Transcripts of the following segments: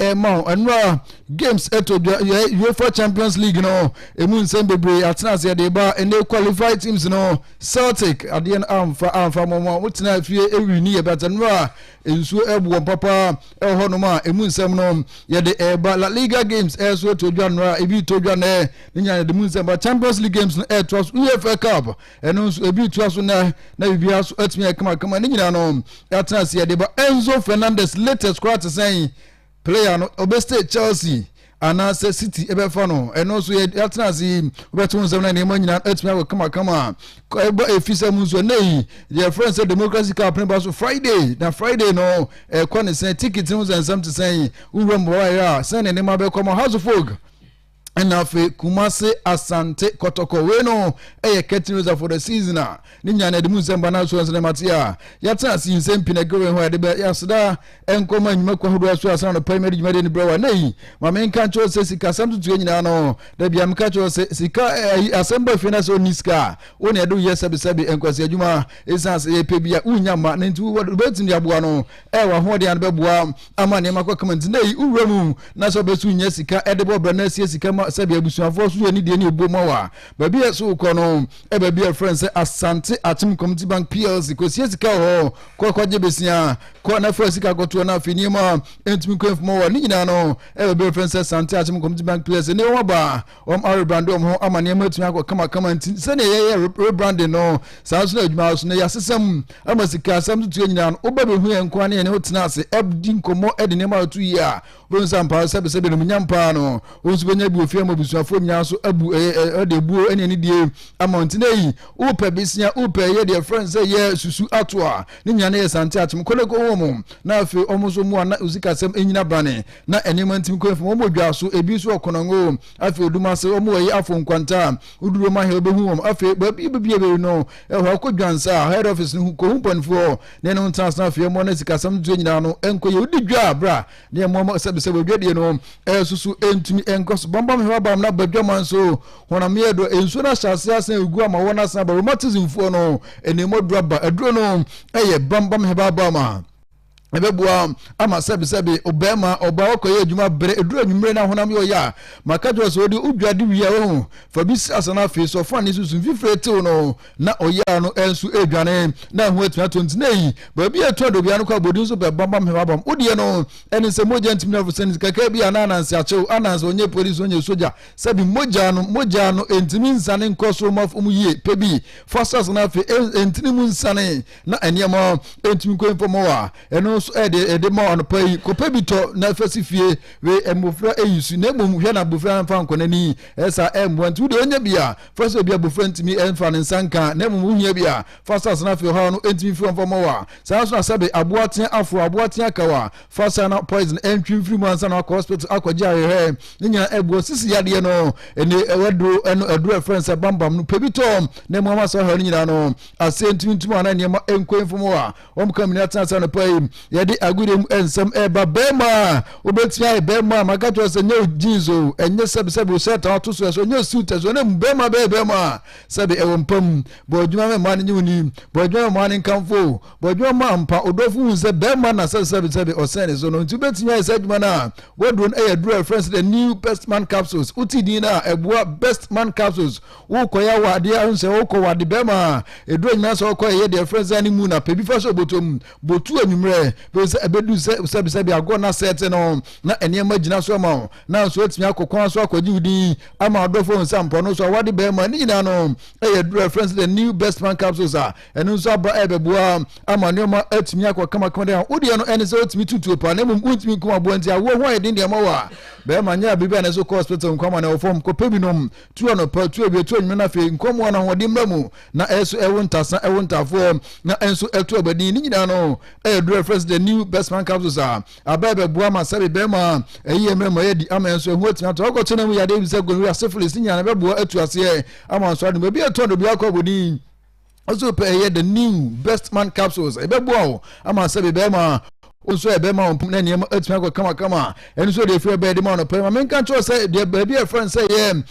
ɛma wo ɛnora games ɛtɔ dwa yɛ uefa champions league no ɛmu nsɛm bebree atena ase ɛde ba ɛnɛ qualified teams no celtic adeɛ no amfa amfa mɔmɔ a wotena fie ɛwi ne yɛ bɛt ɛnora nsuo ɛboɔ papa ɛwɔ hɔ nom a ɛmu nsɛm no yɛde ɛba la liga games ɛso ɛtɔ dwa ɛnora ebi tɔ dwa nɛ ne nyinaa yɛde mu nsɛm ba champions league games no ɛtoa so uefa cup ɛno nso ebi tua so na na biribi aso atumi ayɛ kamakama ne nyinaa no yɛatena ase yɛde ba enzo fernandez latest koraa te sɛn player no ɔbɛstay chelsea anaasɛ city ɛbɛfa no ɛno nso yɛatena ase yi wobɛte wo nsɛm no nneɛma nyinaa atumi akɔ kamakama ɛba ɛfi sɛ mu nso ɛnɛ yi deɛ ɛfrɛ sɛ democracy cup ne ba so friday na friday no ɛkɔ ne sɛn ticket no ho sɛ nsɛm te sɛn wowura mu bawaeɛ a sɛn ne nneɛma bɛkɔ ma house of folk ɛna afei kumase asante kɔtɔkɔ wei no ɛyɛ curtain raiser for the season a ne nyinaa na ɛde mu nsɛmpa no aso nsɛm mate a yɛatena ase yi nsɛm pii na ɛgere wei ho a yɛde bɛ yɛaseda nkɔma nnwuma kwa hodoɔ so asena no pɛi mɛde dwumadeɛ no berɛ wa na yi ma menka kyerɛ sɛ sikasɛm totoɛ nyinaa no da bia meka kyerɛ sɛ sika ayi asɛm ba fie no sɛ ɔnni sika a wo ne ɛde woyɛ sɛbesɛbe nkwasi adwuma ɛsiane sɛ yɛpɛ bi a wonya ma no nti wobɛtumi de aboa no ɛyɛ w'ahoɔden ano bɛboa ama nneɛma akɔ kama nti na eyi wura mu na sɛ ɔbɛso nya sika ɛde bɔ brɛ na asie sika ma sɛbi abusuafoɔ so yɛ ne deɛ ne ɛbuo mu awa baabi a ɛso wokɔ no ɛbaabi a ɛfrɛ sɛ asante atem community bank plc kɔsie sika wɔ hɔ kɔ kɔgye besia kɔ na fa sika kɔtoɔ na afei nneɛma ɛntumi kɔ mfoma wɔ ne nyinaa no ɛbaabi a ɛfrɛ sɛ asante atem community bank plc ne wɔn aba Wɔarebrande wɔn ho ama nneɛma atumi akɔ kamakama nti sɛdeɛ yɛyɛ rebrande no saa nso na adwuma so na yɛasesa mu ama sika asɛm so tuo nyinaa no woba bɛhu yɛn nkoa ne yɛne wo tena ase ɛdi nkɔmmɔ de nneɛma ato yie a wobɛhu sɛ ampaa sɛbesɛbe no munyam paa no wo nso bɛnya bi ofie ama abusuafoɔ nyinaa nso abu ɛde abuo ne anidie ama nti na yi wopɛ besia wopɛ yɛ deɛ frɛ no sɛ yɛ susu ato a ne nyinaa na yɛ sante akyem kɔne kɔhu wɔn na afei wɔn nso mu a na osikasɛm nyina brane na nneɛma ntim kwan fam. Wɔwɔ dwa so, ebi nso wɔ Konongo, afei odum ase. Wɔwɔ ɛyi afo nkwanta a woduru wɔn ahɛ wobɛhu wɔn. Afei baabi a wobɛbie baabi no, ɛwɔ hɔ akɔ dwansa a head office no ho kɔhu mpanifoɔ hɔ na ɛne ho ntena ase na afei ɛmmɔ na sikasɛm no ntoɛ nyinaa no ɛnkɔ yɛ. Wodi dwa a bra na ɛmmoa ma sɛbisɛ wadwadie no ɛsusu ɛntumi ɛnkɔ so. Bambam hɛw abam na badwaman nso honam yɛ dɔ. Nsuo no ahyɛ aseɛ asen agu ama wɔn asen aba. Rheumatismfoɔ no ɛnɛmɔduro aba. Aduro no ɛyɛ bambam hɛbabam a. ɛbɛboa ama sɛbesɛbe ɔbarima ɔbaa ɔkɔyɛ adwuma berɛ ɛduru anwummere na honam yɛ ɔyɛ a maka kyerɛ sɛ ɔde odwa de wie a wahu fa bi si asa no afei so ɔfa ne so su mfifire tew no na ɔyɛ no nso ɛredwane na ɛho atumi atɔ nti na ɛyi baabi a ɛtɔ adobia no kɔ abɔdi nso bɛ bambam hemabam wodeɛ no ɛne sɛ mogya ntumi na fosɛ nti kakra bi a na ananse akyew ananse ɔnyɛ polisi ɔnyɛ sogya sɛbi mogya no mogya no ɛntumi nsane nkɔ so ma fam yie pɛ bi fa sasa no afei ɛntini mu nsane na nneɛma ntumi nkɔ mfa mu a ɛno nso ɛde ɛde ma anɔpa yi kɔpɛ bi tɔ na ɛfɛ si fie we mmofra eyi so na mmom hwɛ na abofra mfa nkɔ n'ani ɛsa ɛmmoa nti wode onya bi a fa sɛ obi abofra ntumi ɛmfa ne nsa nka na mmom wohia bi a fa sa asena afei ɔhaw no ntumi mfiri mfa mu a saa nso na sɛbe aboa tea aforo aboa tea kaw a fa sa na poison ɛntwi mfiri mu ansa na akɔ hospital akɔgye ahwehwɛ ne nyinaa ɛboa sisi yadeɛ no ɛne ɛwɔ duro ɛno aduro ɛfrɛ nsɛ bambam no pɛ bi tɔ na mmom ama saa ɔhaw no nyinaa no aseɛ ntimintim anaa nneɛma nkwan fam hɔ a wɔka mini atena ase anɔpa yi yɛde agodie mu nsɛm ɛreba bɛrima a wobɛtumi ayɛ bɛrima a maka kyerɛ sɛ nyɛ jeans o ɛnyɛ sɛbisɛbi osɛ ta wato so ɛso nyɛ suit ɛso ne mu bɛrima bɛyɛ bɛrima a sɛbi ɛwɔ mpa mu bɔ adwuma mɛ mmaa no nye woni bɔ adwuma mɛ mmaa no nkamfo bɔ adwuma ma mpa odɔfo hu sɛ bɛrima na sɛbisɛbisɛbi ɔsɛn ne so no nti wobɛtumi ayɛ sɛ adwuma no a wɔduro no ɛyɛ duro a ɛfrɛ sɛ the new best man capsules wote din no a ɛboa best man capsules wokɔ yɛ awade a nsɛ wokɔ wade bɛma a ɛduru anyina sɛ wokɔ ɛyɛ deɛ ɛfrɛ sɛ ne mu na pɛ bi fa sɛ ɔbɔtɔ mu bɔtu anwummerɛ bɛhu sɛ ɛbɛdu sɛ sɛbisɛbi agorɔ na sɛte no na nneɛma gyina so ama wo na nso atumi akɔ kwan so akɔgye wo din ama ɔdɔfoɔ hu sɛ mpɔ no so awade bɛma ne nyinaa no ɛyɛ duru ɛfrɛ sɛ the new best man capsules a ɛno nso aba ɛbɛboa ama nneɛma atumi akɔ kamakama dɛ wodeɛ no ɛne sɛ wotumi tutuo paa na mmom wontumi nkum aboa nti awoɔ ho ayɛ den deɛ ma wo a bɛma nyɛ a biribi a ne so kɔ hospital nkwama na ɛwɔ fam kɔpɛ binom tu anɔpa, tu awia, tu anwummerɛ, na afei nkɔmmoa no ahoɔden mma mu, na ɛso ɛwo ntasa, ɛwo ntaafoɔ, na ɛnso ɛto abadin. Ne nyinaa no ɛyɛ duro ɛfrɛ sɛ the new best man capsules a aba ɛbɛboa ma sɛbe bɛrima a ɛyɛ mmerɛ ma yɛadi ama ɛnso ɛho atumi ato akɔkyɛ no mu yadeɛ bi sɛ gonorrhea, syphilis, ne nyinaa no ɛbɛboa atu aseɛ ama nso ade mu ebi ɛtɔn de obi akɔ abɔdin. ɔsɛ pɛ ɛyɛ the new best man capsules ɛbɛboa wo ama sɛ bɛbɛma wo nso ɛbɛma wo mpom na nneɛma atumi akɔ kamakama ɛno nso deɛ ɛfiri ɛbɛyɛ de ma no pɛ ma menka kyerɛ sɛ deɛ baabi a ɛfrɛ no sɛ yɛ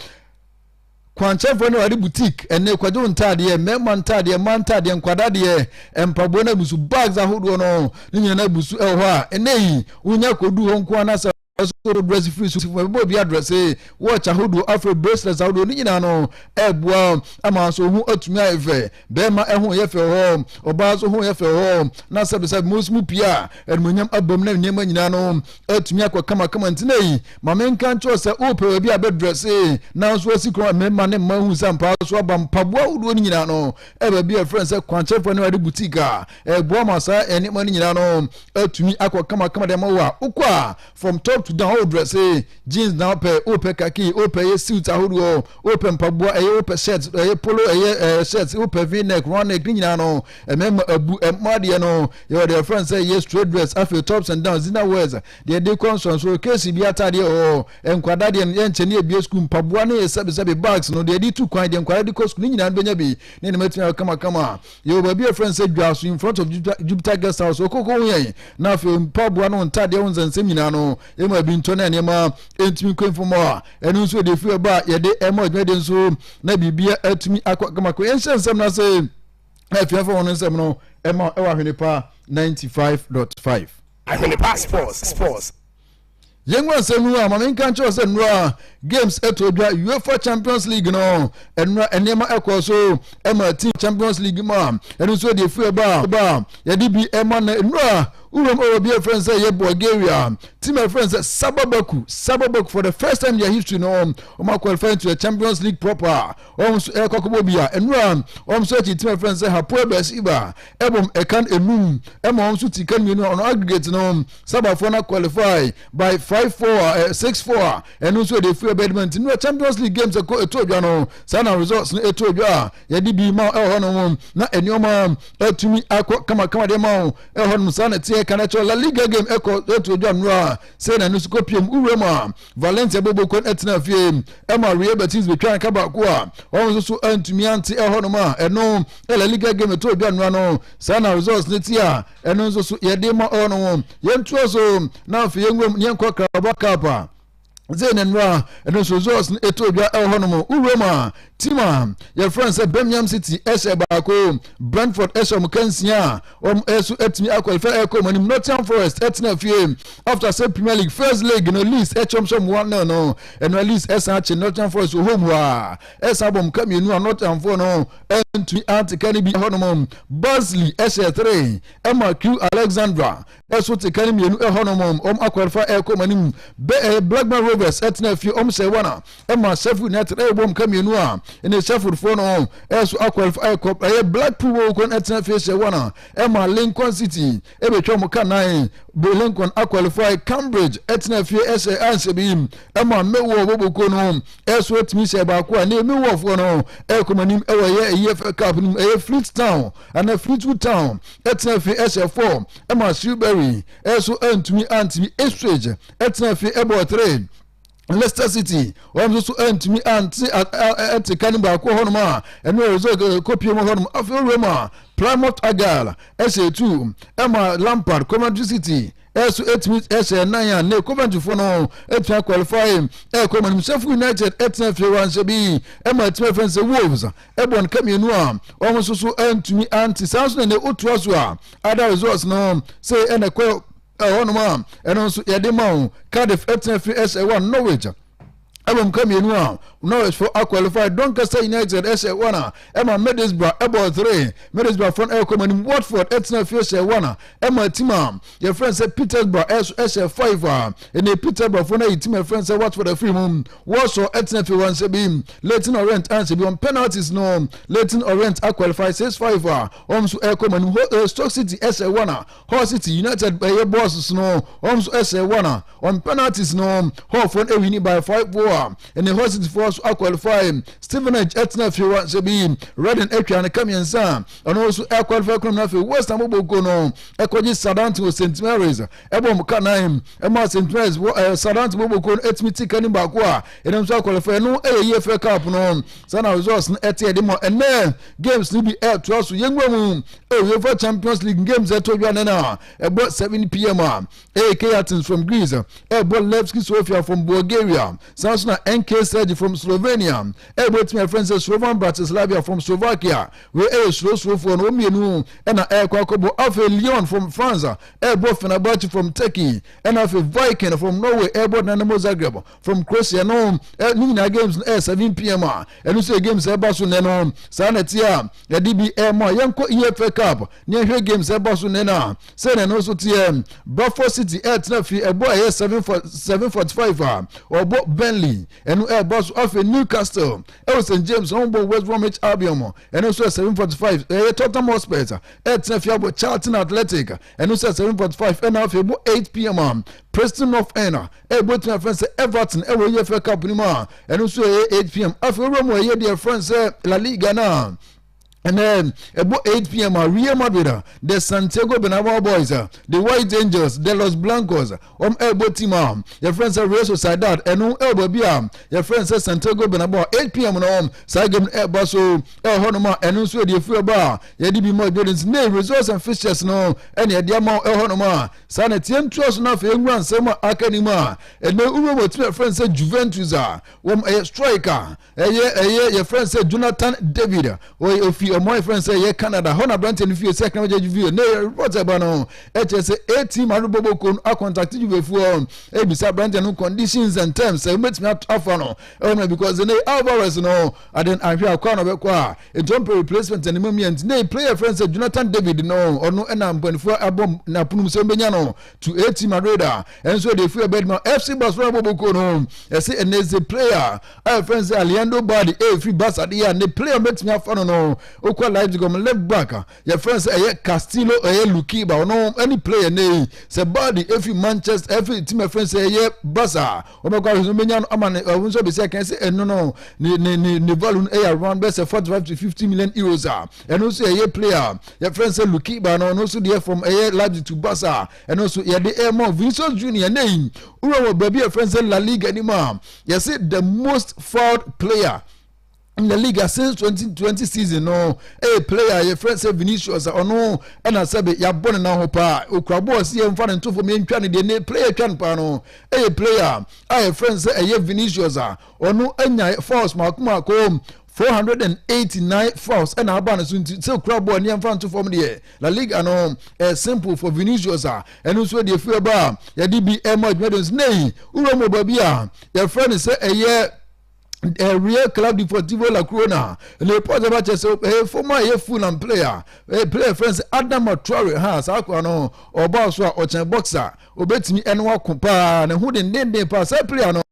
kwankyɛfoɔ no ade boutique ɛne kwadwo ntaadeɛ mmarima ntaadeɛ mmaa ntaadeɛ nkwadadeɛ mpaboa no abusu bags ahodoɔ no ne nyinaa no abusu ɛwɔ hɔ a ɛnɛ yi wonya kɔdu hɔ nko anasɛ so no dress free so fo ɛbɛbɔ obi address watch ahodoɔ afei bracelets ahodoɔ ne nyinaa no ɛboa ama nso ho atumi ayɛ fɛ bɛrima ɛho yɛ fɛ hɔ ɔbaa nso ho yɛ fɛ hɔ na sɛbisɛbi mu nso mu pii a ɛnumonyam abam na nneɛma nyinaa no atumi akɔ kamakama ntina yi maame nka nkyɛw sɛ wopɛ obi abɛ dress nanso asi kɔn mmarima ne mmaa hu sɛ mpaa so aba mpaboa ahodoɔ ne nyinaa no ɛbɛ bi a ɛfrɛ sɛ kwankyɛfoɔ ne wɔde boutique a ɛboa ma saa nneɛma no nyinaa no atumi akɔ kamakama dɛm wɔ a wokɔ a from top to down wodrɛ se jeans na wopɛ wopɛ kaki wopɛ yɛ suit ahodoɔ wopɛ mpaboa ɛyɛ wopɛ shirt ɛyɛ polo ɛyɛ ɛɛ shirt wopɛ v neck round neck ne nyinaa no ɛmɛma abu ɛmma deɛ no yɛwɔ deɛ fɛn sɛ yɛ straight dress afei tops and downs dinner wears deɛ de kɔ nsonso keesi bi ataadeɛ ɔɔ nkwadaa deɛ no yɛ nkyɛn ne ebie sukuu mpaboa ne yɛ sɛbisɛbi bags no deɛ de tu kwan deɛ nkwadaa de kɔ sukuu ne nyinaa no bɛnya bi ne ne mɛtumi ayɛ kamakama Yɛwɔ baabi a yɛfrɛ no sɛ dwa so in front of Jupiter guest house ɔkoko ho yɛn na afei mpaboa no ntadeɛ ho nsɛnsɛm nyinaa no ɛma bi ntɔ na nneɛma ɛntumi nkɔ mfomɔ a ɛno nso yɛde firi ɛba a yɛde ɛma adwumadeɛ nso na biribia atumi akɔ kamakɔ yɛnhyɛ nsɛm no ase na afiafa wɔn nsɛm no ɛma ɛwɔ ahwene pa 95.5 ahwene pa sports sports Yɛngu asɛm no a, ma menka nkyerɛ wo sɛ nnora games ɛtɔ dwa UEFA Champions League no nnora nneɛma ɛkɔ so ɛma team Champions League mu a ɛno nso ɛde efu ɛba ɛba yɛde bi ɛma na nnora wuram ɛwɔ bi ɛfrɛ sɛ yɛ Bulgaria team ɛfrɛ sɛ Sababaku Sababaku for the first time in their history no ɔma qualify into the Champions League proper wɔn so ɛkɔ kɔbɔ bi a ɛno a wɔn so akyi tim ɛfɛn sɛ hapoe bɛsiba ɛbom ɛkan enum ɛma wɔn so ti kan mmienu a ɔno aggregate no sabafoɔ na qualify by five four a six four a ɛno nso ɛde firi ɛbɛdima nti no champions league games ɛkɔ ɛtɔ odwa no saa na results no ɛtɔ odwa a yɛde bi ma ɛwɔ hɔ no na nneɛma atumi akɔ kamakama deɛ ma wo ɛwɔ hɔ no saa na ɛteɛ kan ɛkyɛ la liga game ɛkɔ ɛtɔ odwa nnora sɛ na ɛno nso kɔ pm wura mu a Valencia bobo kwan ɛtena fie ɛma Real Betis betwa nka baako a wɔn nso so antumi ante ɛhɔnom a ɛno La Liga game to dwa nnora no saa na results ne ti a ɛno nso so yɛde ma ɔnom yɛntoa so na afei yɛnwuram ne yɛnkɔ Carabao Cup a zee ne nnora ɛno nso results no ɛto dwa ɛhɔnom wowuram a team a yɛfrɛ no sɛ Birmingham City ɛhyɛ baako Brentford ɛhyɛ wɔn kansia wɔn nso atumi akɔlifɛ ɛkɔ wɔn anim nottingham forest ɛtena fie after sɛ premier league first league no leeds ɛkyɛmhyɛm one nil no ɛno leeds ɛsan akye nottingham forest wɔ home a ɛsan bɔ mka mmienu a nottingham foɔ no ɛntumi anteka no bi ɛhɔnom basley ɛhyɛ three ɛma q alexandra ɛso teka no mmienu ɛhɔnom wɔn akɔlifɛ ɛkɔ wɔn anim blackburn rovers ɛtena fie wɔn hyɛ one a ɛma sɛfo nyinaa tena ɛyɛ bom ka mmienu a ɛne sɛforfoɔ no ɛso akɔlifo ɛkɔ ɛyɛ blackpool wɔ wɔkɔ ɛtena fie sɛ wɔn a ɛma lincoln city ɛbɛtwa wɔn ka nan lincoln akɔlifo cambridge ɛtena fie ɛsɛ ansɛ bi ɛma mewɔ wɔbɔkuo no ɛso ɛtumi sɛ baako a ne mewɔfoɔ no ɛkɔm anim ɛwɔ ɛyɛ ɛyɛ fɛ cup no mu ɛyɛ fleet town ɛna fleetwood town ɛtena fie ɛsɛ four ɛma silberry ɛso ɛntumi antumi estage ɛtena fie ɛbɔ three Leicester City wɔn nso so ntumi ante ɛte ka no baako hɔnom a ɛne ɔresɛ kɔpie mu hɔnom afei wura mu a Plymouth Argyle ɛhyɛ etu ɛma Lampard Coventry City ɛso ɛtumi ɛhyɛ nan a ne Coventry fo no ɛtumi qualify ɛkɔ mu Sheffield United ɛtena fie wɔn ahyɛ bi ɛma ɛtumi ɛfɛn sɛ Wolves ɛbɔ nka mmienu a wɔn nso so ntumi ante saa nso na ne otua so a ada results no sɛ ɛna kɔ ɛhɔ nom a ɛno nso yɛde ma wo cardiff ɛtena fi ɛsɛ ɛwɔ norwich ɛwɔ mu ka mmienu a norwich fo aqualify doncaster united ɛsɛ ɛwɔ na ɛma middlesbrough ɛbɔ three middlesbrough fo ɛkɔ mu anim watford ɛtena fi ɛsɛ ɛwɔ na ɛma tim a yɛfrɛ sɛ petersburg ɛso ɛsɛ five a ɛnna petersburg fo no ayi tim ɛfrɛ sɛ watford afiri mu wɔsɔ ɛtena fi wɔn nsɛ bi latin orient ansɛ bi wɔn penalties no latin orient aqualify six five a wɔn nso ɛkɔ mu anim stoke city ɛsɛ ɛwɔ na Hull City United bɛyɛ bɔɔls no wɔn nso ɛsɛ wɔn a wɔn penalties no Hullfoɔ no ɛwini by five four a ɛne Hull Cityfoɔ nso aqualify Stevenage ɛtena fie wɔn sɛ bi Reading atwa ne ka mmiɛnsa a ɛno nso aqualify kunam no afei West Ham bɔbɔ nkuo no ɛkɔgye Southampton wɔ St Mary's ɛbɔ mu ka nan ɛma St Mary's wɔ ɛɛ Southampton bɔbɔ nkuo no ɛtumi ti ka ne baako a ɛnam nso aqualify ɛno ɛyɛ yie fɛ cup no saa na results no ɛte ɛde ma ɛnɛ games no bi ɛɛtoa so yɛnwura mu UEFA Champions League games ɛtɔ dwa ne na ɛbɔ 7 pm a ɛyɛ Kayatins from Greece ɛbɔ Levski Sofia from Bulgaria saa nso na NK Sergi from Slovenia ɛbɔ timi afrɛ sɛ Slovan Bratislava from Slovakia wei ɛyɛ surosurofoɔ no mmienu ɛna ɛkɔ akɔbɔ afei Lyon from France ɛbɔ Fenerbahce from Turkey ɛna afei Viking from Norway ɛbɔ Dynamo Zagreb from Croatia no eh, ne nyinaa games no ɛyɛ eh, seven pm a ɛno nso yɛ games ɛba so nnɛ no saa na ɛteɛ a yɛde bi ɛma yɛnkɔ efa cup ne ɛhwɛ games ɛba so nnɛ no a sɛ na ɛno nso teɛ bradford city ɛtena fi ɛbɔ ɛyɛ seven for seven forty five a ɔbɔ burnley ɛno ɛba so afei newcastle ɛwɔ st james wɔn bɔ west bromwich albion ɛno nso yɛ seven forty five ɛyɛ tottenham hotspur ɛtena fi abɔ charlton athletic ɛno nso yɛ seven forty five ɛna afei bɔ eight pm a preston north end Ɛbɛtumi afrɛ no sɛ Everton wɔ EFL Cup no mu a, ɛno nso ɛyɛ 8 pm. Afei wura mu ɛyɛ deɛ ɛfrɛ no sɛ La Liga no a ɛnɛ ɛbɔ 8 pm a Real Madrid a the Santiago Bernabeu Boys a the White Angels the Los Blancos wɔn ɛbɔ team a yɛfrɛ no sɛ Real Sociedad ɛno ɛwɔ baabi a yɛfrɛ no sɛ Santiago Bernabeu 8 pm no wɔn saa game no ɛba so ɛhɔ nom a ɛno nso ɛde efiri ɛba a yɛde bi ma Jordan nti ne results and fixtures no ɛne ɛde ama ɛhɔ nom a Saa na ɛteɛ ntoa so na afei nwura nsɛm a aka nim a ɛnɛ wura mu ɔtumi ɛfrɛ no sɛ Juventus a wɔn ɛyɛ striker ɛyɛ ɛyɛ yɛfrɛ no sɛ Jonathan David ɔyɛ ofi ɔmo a yɛfrɛ no sɛ ɛyɛ Canada hɔ na aberanteɛ no fie sɛ ɛkana wɔgya Juve ne report ɛba no ɛkyɛ sɛ ɛti ma rebɔ bɔkɔ no akɔntakte Juvefoɔ ɛbisa aberanteɛ no conditions and terms sɛ wɔbɛtumi afa no ɛwɔ no because ne Alvarez no aden ahwɛ akɔ a na ɔbɛkɔ a Etuompɛ replacement ne mamia nti na player yɛfrɛ no sɛ Jonathan David no ɔno na mpanimfoɔ abɔ n'aponom sɛ ɔbɛnya no to AT Madrid a ɛnso ɛde efi ɛbɛn ma FC Barcelona bɔ boko no ɛsɛ ɛnɛ ɛsɛ player a yɛfrɛ no sɛ Aliando Badi ɛfiri e Barca de a ne player mɛtumi afa no no okɔ Leipzig ɔmo left back yɛfrɛ no sɛ ɛyɛ Castillo ɛyɛ Lukiba ɔno ɛne player ne sɛ Badi ɛfiri Manchester ɛfiri team ɛfrɛ no sɛ ɛyɛ Barca wɔbɛkɔ ahwɛ sɛ wɔbɛnya no ama no ɛho nso bɛsi akan sɛ ɛno no ne ne ne ne value no ɛyɛ around bɛsɛ forty five to fifty million euros a ɛno nso ɛyɛ player yɛfrɛ sɛ lukiba no ɔno nso deɛ from ɛyɛ Leipzig to Barca ɛno nso yɛde ɛma Vinicius Junior ne yi wura wɔ baabi yɛfrɛ sɛ La Liga anim a yɛsɛ the most fouled player in the league since 2020 season no ɛyɛ eh, player yɛ friend sɛ Vinicius ɔno ɛna sɛbe yabɔ ne nan ho paa okura bɔɔl si yɛ nfa ne ntofo mi ntwa ne deɛ ne player twa ne paa no ɛyɛ eh, player a yɛ friend sɛ ɛyɛ Vinicius a ɔno anya fouls mako mako 489 fouls ɛna aba ne so nti sɛ okura bɔɔl ne yɛnfa nto fam deɛ La Liga no ɛyɛ eh, simple for Vinicius a ɛno nso deɛ fi ɛba a yɛde bi ɛma adwuma de nso nei wura mu baabi a yɛfrɛ ne sɛ ɛyɛ ɛreɛ club deportivo la corona ne pɔt ɛba kyɛ sɛ ɛyɛ fam a ɛyɛ full and player ɛyɛ player fɛn sɛ adam atraore ha saa akora no ɔbaa so a ɔkyɛn boxer obetumi ɛne wako paa ne ho dendenden paa saa player no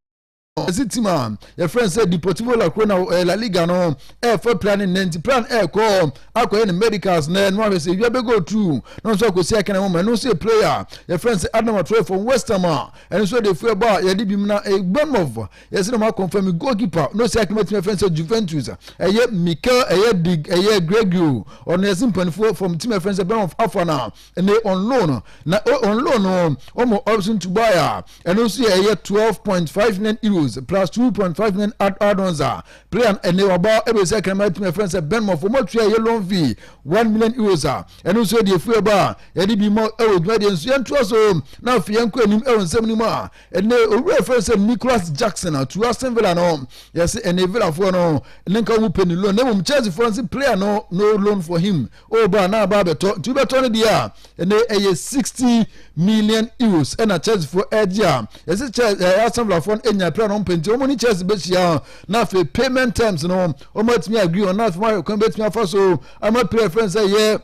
ɛsi tim a yɛfrɛ sɛ deportivo la corona ɛyɛ la liga no ɛɛfa plan ne nanti plan ɛɛkɔ akɔyɛ ne medicals na ɛno ahwɛ sɛ ewia bɛgɔ tru na nso akɔsi akɛnɛ ho ma ɛno nso yɛ player yɛfrɛ sɛ adam atraore fam west ham a ɛno nso de fo ɛbɔ a yɛde bi mu na ɛgbɛn mɔfo yɛsɛ na ɔmo akɔnfam mi goalkeeper na osi akoma tumi afɛn sɛ Juventus a ɛyɛ Mikel ɛyɛ di ɛyɛ Gregorio ɔno yɛsɛ mpanimfoɔ fam tumi afɛn sɛ Bernhoff afa na ɛnɛ on loan na on loan no ɔmo ɔbɛso to buy a ɛno nso yɛ ɛyɛ twelve point five nine euros plus two point five nine add-ons a player ɛnɛ waba ɛbɛsi akoma tumi afɛn sɛ Bernhoff ɔmo atua ɛyɛ loan fee one million euros a ɛno nso yɛ deɛ efu ɛba a yɛde bi ma ɛwɔ dwumadie nso yɛn to so na afei yɛn kɔ anim ɛwɔ nsɛm no mu a ɛnɛ owura fɛ sɛ nicholas jackson atu aston villa no yɛsɛ ɛnɛ villafoɔ no ne nka wɔn pɛ ne loan na mmom chelsea foɔ nse player no no loan for him ɔba oh, a na aba abɛtɔ nti wobɛtɔ no deɛ a ɛnɛ ɛyɛ sixty million euros ɛna chelsea foɔ ɛgye a yɛsɛ chelsea ɛyɛ aston villafoɔ no nya player no mpɛ nti wɔn ne chelsea bɛhyia na afei payment terms no wɔn atumi agree wɔn na afei wɔn ayɛ kwan bɛtumi afa so ama player fɛn sɛ yɛ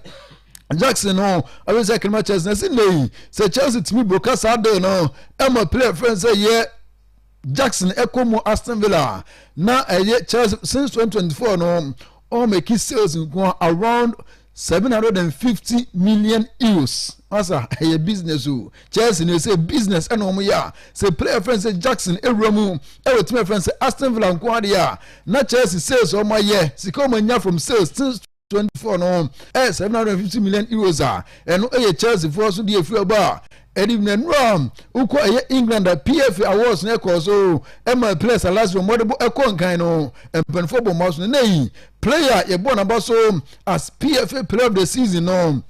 Jackson no ɛwɛ sɛ kɛnɛma Chelsea na si nne yi sɛ Chelsea tumi broka saa deal no ɛma player fɛn sɛ yɛ Jackson ɛkɔ mu Aston Villa na ɛyɛ Chelsea since 2024 no ɔmo mɛki sales nko around 750 million euros asa ɛyɛ business o Chelsea na ɛsɛ business ɛna ɔmo yɛ a sɛ player fɛn sɛ Jackson ewura mu ɛwɔ tumi fɛn sɛ Aston Villa nko adeɛ a na Chelsea sales ɔmo ayɛ sika ɔmo anya from sales since twenty four no ɛyɛ seven hundred fifty million euros a ɛno ɛyɛ chelsea foɔ so deɛ efiri ɛbɔ a ɛde bi na nnuro a wokɔ ɛyɛ england a pfa awards na ɛkɔɔ so ɛma players alas wɔn wɔde bɔ ɛkɔ nkan no mpanimfoɔ bɔ mmaa so no na yi player yɛbɔ n'aba so as pfa player of the season no.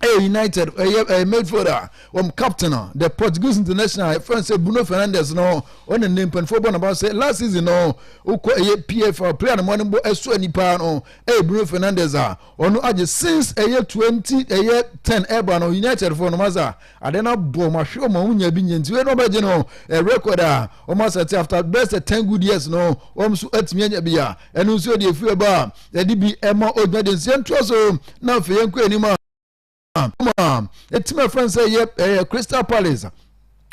ɛyɛ united ɛyɛ ɛyɛ midfielder wɔn captain a the portuguese international ɛfɛn e sɛ bruno fernandes no ɔna ne mpanimfoɔ bɔ n'aba sɛ last season no wokɔ ɛyɛ pfa player no mɔne bɔ ɛso ani paa no ɛyɛ bruno fernandes a ɔno agye since ɛyɛ twenty ɛyɛ ten ɛba no united foɔ no ma sa adeɛ no abɔ ɔmo ahwɛ ɔmo ɔmo nya bi nya nti wei na ɔbɛgye no ɛ record a ɔmo asɛte after best ten good years no ɔmo nso atumi anya bi a ɛno nso yɛde efiri ɛba a yɛde bi ɛma ogyina de nsia ntoa so na afei yɛn kɔ anim a ma ɛtumi ɛfrɛ no sɛ ɛyɛ ɛyɛ crystal palace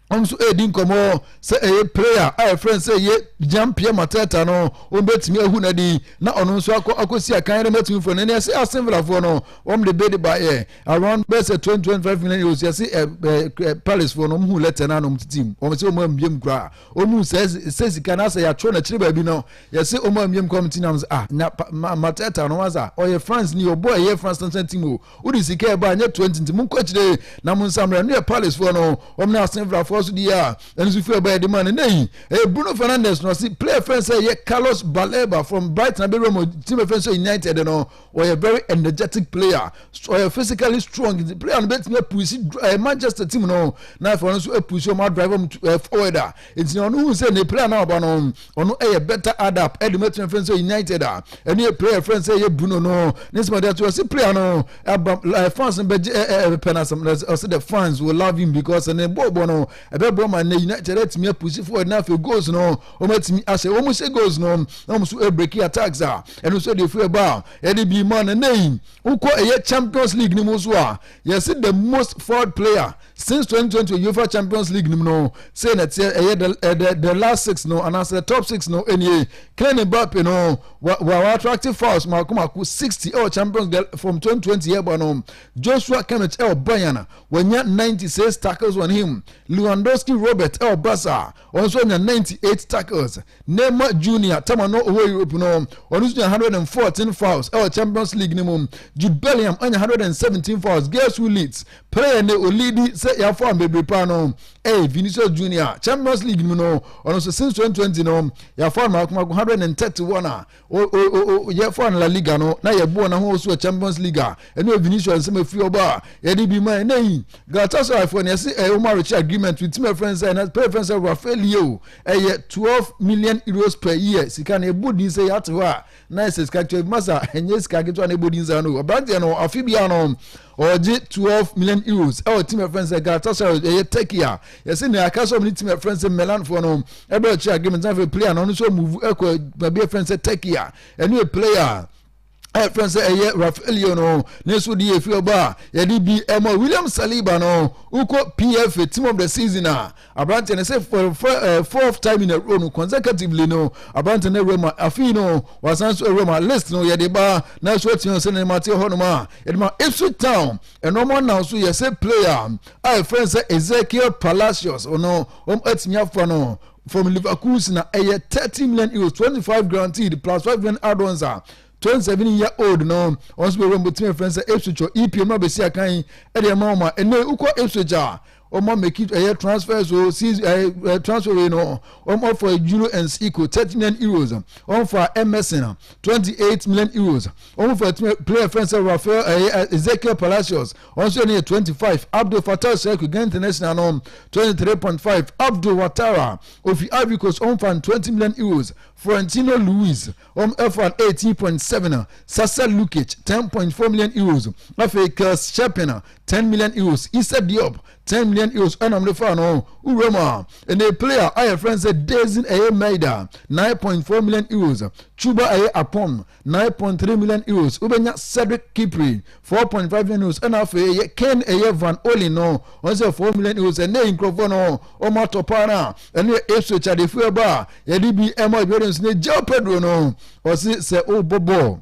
wɔn nso ɛredi nkɔmɔ sɛ ɛyɛ prayer a ɛfrɛ no sɛ ɛyɛ jean pierre mateta no wɔn bɛtumi ahu no adi na ɔno nso akɔ akɔsi akan no bɛtumi fo no ne ɛsɛ asenfrafoɔ no wɔn de bɛde baeɛ around bɛsɛ twenty twenty five million euros yɛsɛ palacefoɔ no wɔn hu lɛtɛ no anom titi mu wɔn sɛ wɔn ambiem koraa Ɔmu nsɛ sɛ sika na sɛ yɛatwerɛ no akyiri baabi no yɛse ɔmu ammiam kɔm nti nam sɛ ah nya matɛta no wasa ɔyɛ France ni ɔbɔ ɛyɛ France national team o wode sika ɛba anyɛ 20 nti monkɔ akyire na mo nsammerɛ ɛno yɛ Palace foɔ no wɔm ne asenfrafoɔ so deɛ a ɛno so firi ɛba ɛde ma no nɛ yi ɛyɛ Bruno Fernandes no ɔse player fɛn sɛ ɛyɛ Carlos Baleba from Brighton abɛwura mu team fɛn sɛ United no ɔyɛ very energetic player ɔyɛ physically strong nti player no bɛtumi apusi ɛɛ eh, manchester team no na afei ɔno nso apusi ɔmo adrive ɔmo ɛɛ eh, forward a nti na ɔno hu sɛ ne player no aba no ɔno ɛyɛ better adapt ɛde mo atena fɛn sɛ united a ɛne yɛ player fɛn sɛ ɛyɛ bruno no ne nsɛm ɛde ato ɔsi player no aba ɛɛ eh, fans no bɛgye ɛɛ ɛbɛpɛ na asɛm ɔsi the fans will love him because ne bɔɔl bɔ no ɛbɛboa ma ne united atumi apusi forward na afei goals no wɔn atumi asɛ wɔn sɛ goals no na wɔn nso breaking attacks a ɛno nso de efiri ɛba a ɛde bi ma na nɛyi wokɔ ɛyɛ champions league no mu nso a yɛsi the most forward player since 2020 uefa champions league no mu no sɛ na ɛteɛ ɛyɛ the eh, the the last six no anaasɛ the top six no ɛnie Kylian Mbappe no wa wa attractive fouls mako mako 60 ɛwɔ champions league from 2020 yɛ ɛba no Joshua Kimmich ɛwɔ Bayern wɔnya 96 tackles on him Lewandowski Robert ɛwɔ Barca Ɔno nso nya ninety eight tackles. Neymar Junior, tam a na ɔwɔ Europe no, ɔno nso nya hundred and fourteen fouls ɛwɔ Champions League no mu. Jude Bellingham anya hundred and seventeen fouls. Guess who leads? Player ne olidi sɛ yɛafoul bebree paa no ɛyɛ Vinicius Junior. Champions League no mu no, ɔno nso since twenty twenty no yɛafoul no mako mako hundred and thirty one a o o o yɛfa no La Liga no na yɛboɔ no ho so Champions League a ɛne Vinicius nsɛm afiri ɔbɔ a yɛde bi ma ɛnɛ yi Galatasaray foɔ no yɛse ɛyɛ Omar Richie agreement ntumi ɛfrɛ no sɛ na pɛrɛ fɛn sɛ Rafaelio ɛyɛ 12 million euros per year sika no ɛbɔ din sɛ yɛate hɔ a na ɛsɛ sika kyɛ masa ɛnyɛ sika ketewa na ɛbɔ din saa no aberanteɛ no afe biara no Ɔregye twelve million euros wɔ team a yɛfrɛ no sɛ Galatasaray ɛyɛ Turkey a yɛsɛ nea aka sɛ ɔmo ne team a yɛfrɛ no sɛ Milanfoɔ no ɛbɛ ɔkyerɛ agreement na afei player no ɔno nso amuvu ɛkɔ baabi a yɛfrɛ no sɛ Turkey a ɛno yɛ player a yɛfrɛ no sɛ ɛyɛ Rafaelio no ne nso de yɛ fie ɔbɔ a yɛde bi ɛmɔ William Saliba no wokɔ PFA team of the season a Aberanteɛ no sɛ for, for, uh, fourth time in a row no consecutively no aberanteɛ no awura mu a afei no wasan so awura mu a list no yɛde ba na so atua sɛ ne nneɛma te hɔ nom a yɛde ma Ipswich Town ɛnɔɔma nam so yɛ sɛ player a ɛfrɛ sɛ Ezekiel Palacios ɔno wɔn atumi afa no from Leverkusen na ɛyɛ thirty million euros twenty five guaranteed plus five million add-ons a twenty seven year old no wɔn nso bɛwura mu bɛtumi afrɛ sɛ Ipswich ɔ EPM abɛsi akan ɛde ɛma wɔn a ɛnɛ wokɔ Ipswich a wɔn meki ɛyɛ transfers o since ɛɛ ɛɛ transfer wei no wɔn afa euro and eco thirty million euros wɔn fa emerson twenty eight million euros wɔn fa player fɛn sɛ rafael ɛyɛ ezekiel palacios wɔn nso yɛ no yɛ twenty five abdul fatah sheku gan international no twenty three point five abdul watara ofi ivory coast wɔn fa twenty million euros florentino luis Wɔn faa eighteen point seven a Sasa Lukic ten point four million euros afei Kels Sherpen a ten million euros Issa Diop ten million euros ɛna wɔn de faa no wura mu a ɛnna player a yɛfrɛ no sɛ Dezin ɛyɛ Maida nine point four million euros Chuba ɛyɛ Apon nine point three million euros wobɛnya Cedric Kipri four point five million euros ɛna afei ɛyɛ Ken ɛyɛ Van Olin no wɔn sɛ four million euros ɛnna nkurɔfoɔ no wɔn atɔ paa no a ɛne esu akyadefo ɛbɔ a yɛde bi ɛma jordan so ne gyaw pedro no ɔse sɛ wobɔ bɔɔl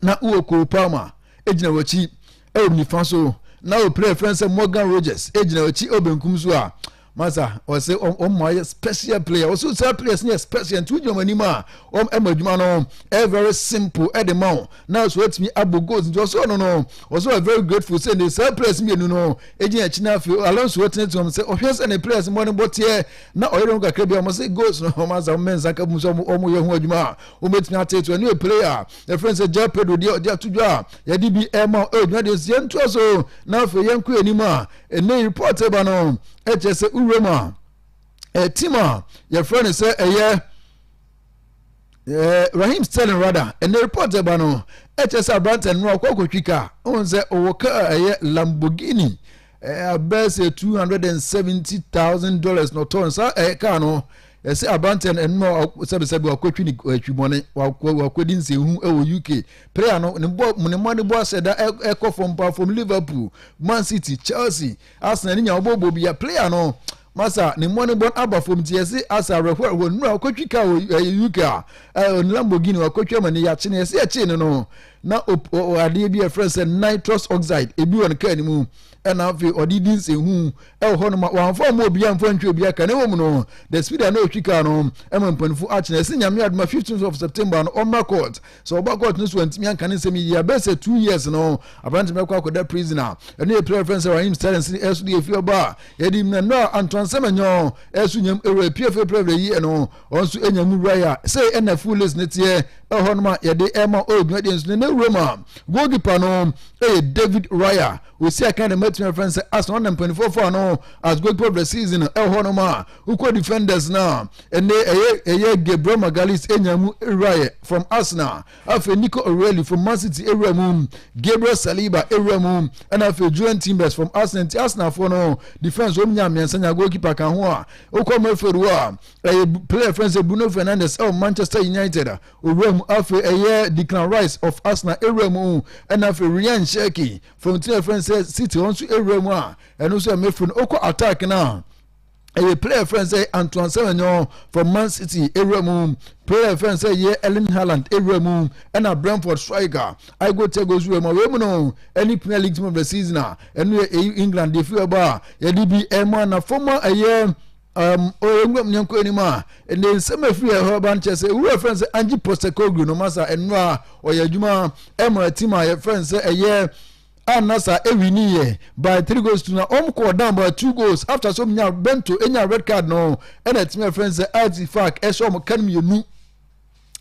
na wowɔ cole palmer egyina w'akyi ɛwɔ nifa so na wɔ player friend sɛ morgan rogers egyina w'akyi ɛwɔ benkum so a masa ɔse ɔmo ayɛ special player ɔso saa players no yɛ special nti wogyina ɔmo anim a ɔmo ɛma adwuma no ɛyɛ very simple ɛde ma wo na so atumi abɔ goals nti ɔsɛ ɔno no ɔsɛ ɔyɛ very grateful sɛ ne saa players mmienu no egyina akyi na afei Alonso ɛtenetene wɔn sɛ ɔhwɛ sɛ ne players mmɔdenbɔ teɛ na ɔyɛ dɔm kakra bi a wɔn sɛ goals no wɔn asa wɔn mɛnsa ka mu sɛ wɔn yɛ ho adwuma a wɔn betumi ateeto ɛno yɛ player a ɛfrɛ sɛ Joao Pedro deɛ ɔde ato dwa a yɛde bi ɛma ɛwɔ dwuma deɛ nsia ntoa so na afei yɛn kɔ anim a ɛnɛ report ɛba no ɛkyɛ sɛ wura mu a ɛtim a yɛfrɛ no sɛ ɛyɛ eh, rahim sterling rada ɛnɛ report ɛba no ɛkyɛ sɛ aberantɛ no ɔkɔ akɔtwi kaa ɔhu sɛ ɔwɔ kaa ɛyɛ lamborghini abɛɛ sɛ two hundred and seventy thousand dollars na ɔtɔn saa ɛyɛ kaa no ɛsɛ aberantɛ no ɛnuma sɛbisɛbi wakɔtwi ne atwibɔne wakɔdi nsɛnhu ɛwɔ uk prayer no ne bɔ ne mma ne bɔ asɛ da ɛkɔ fam pa fam liverpool man city chelsea Arsenal no nya ɔbɔbɔ bi a player no masa ne mmɔnebɔn aba fam nti yɛse asa awerɛhoɔ awerɛhoɔ nnura ɔkɔtwi ka wɔ ɛyɛ uk a ɛyɛ ne lamborghini wakɔtwi ama ne yɛakye no yɛse yɛkyee no no na adeɛ bi a ɛfrɛ sɛ nitrous oxide ebi wɔ ne kaa no mu ɛna afei ɔde di nsɛnhu ɛwɔ hɔ noma wɔamfa ɔma obi amfa ntwi obi aka ne wɔ mu no the speed a na ɔtwi kaa no ɛma mpanimfoɔ akyena ɛse nyame adoma 15 of september no ɔmmra court sɛ ɔba court no so antumi anka ne nsɛm yi yɛ bɛyɛ sɛ two years no aberante no bɛkɔ akɔda prison a ɛno yɛ pira fɛn sɛ rahim staren sini ɛso de ɛfiri ɔba a yɛde mu na nnɔ a antoansɛm ɛnyɔ ɛso nyam ɛwura pie fɛ pira yi ɛno ɔn nso ɛnya mu wura yɛ sɛ ɛna full list ne teɛ ɛhɔ nom a yɛde ɛma ɔredwuma deɛ nso ne na wura mu a goalkeeper no ɛyɛ david raya osi akan de matumi afɛn sɛ asɔn na mpanimfoɔ fɔ ano as goalkeeper of the season ɛhɔ nom a Wokɔ defenders no a, ɛnɛ ɛyɛ ɛyɛ Gabriel Magalhaes enya mu wuraeɛ from Arsenal. Afei Nico O'Reilly from Man City awura mu, Gabriel Saliba awura mu, ɛna afei Jurriën Timbers from Arsenal. Nti Arsenalfoɔ no defense wɔn nya mmiɛnsa nya goalkeeper ka ho a. Wokɔ midfield hɔ a, ɛyɛ player friend sɛ Bruno Fernandes ɛwɔ Manchester United a owura mu. Afei ɛyɛ Declan Rice of Arsenal awura mu, ɛna afei Ryan Cherki from team friend sɛ City wɔn nso awura mu a ɛno nso yɛ midfield. Wokɔ attack no a. ɛyɛ player yɛfrɛ no sɛ antoine semenyo from man city ewura mu player yɛfrɛ no sɛ yɛ erling haaland ewura mu ɛna brentford striker igor thiago nso wura mu awei mu no ɛne premier league team of the season a ɛno yɛ eyi england deɛ fi ɛbɔ a yɛde bi ɛmo anafo mu a ɛyɛ um, ɔyɛnwuram ne nkɔ anim a ne nsɛm afiri ɛhɔ ba no kyerɛ sɛ ɛwura frɛ no sɛ ange postecoglu no masa ɛno a ɔyɛ adwuma ɛma tim a yɛfrɛ no sɛ ɛyɛ a na saa ewi ni yɛ by three goals to na wɔn kɔɔ down by two goals after so wɔn nya bento enya red card no ɛna ɛtumi ɛfɛn e sɛ arts fac ɛhyɛ wɔn kan mmienu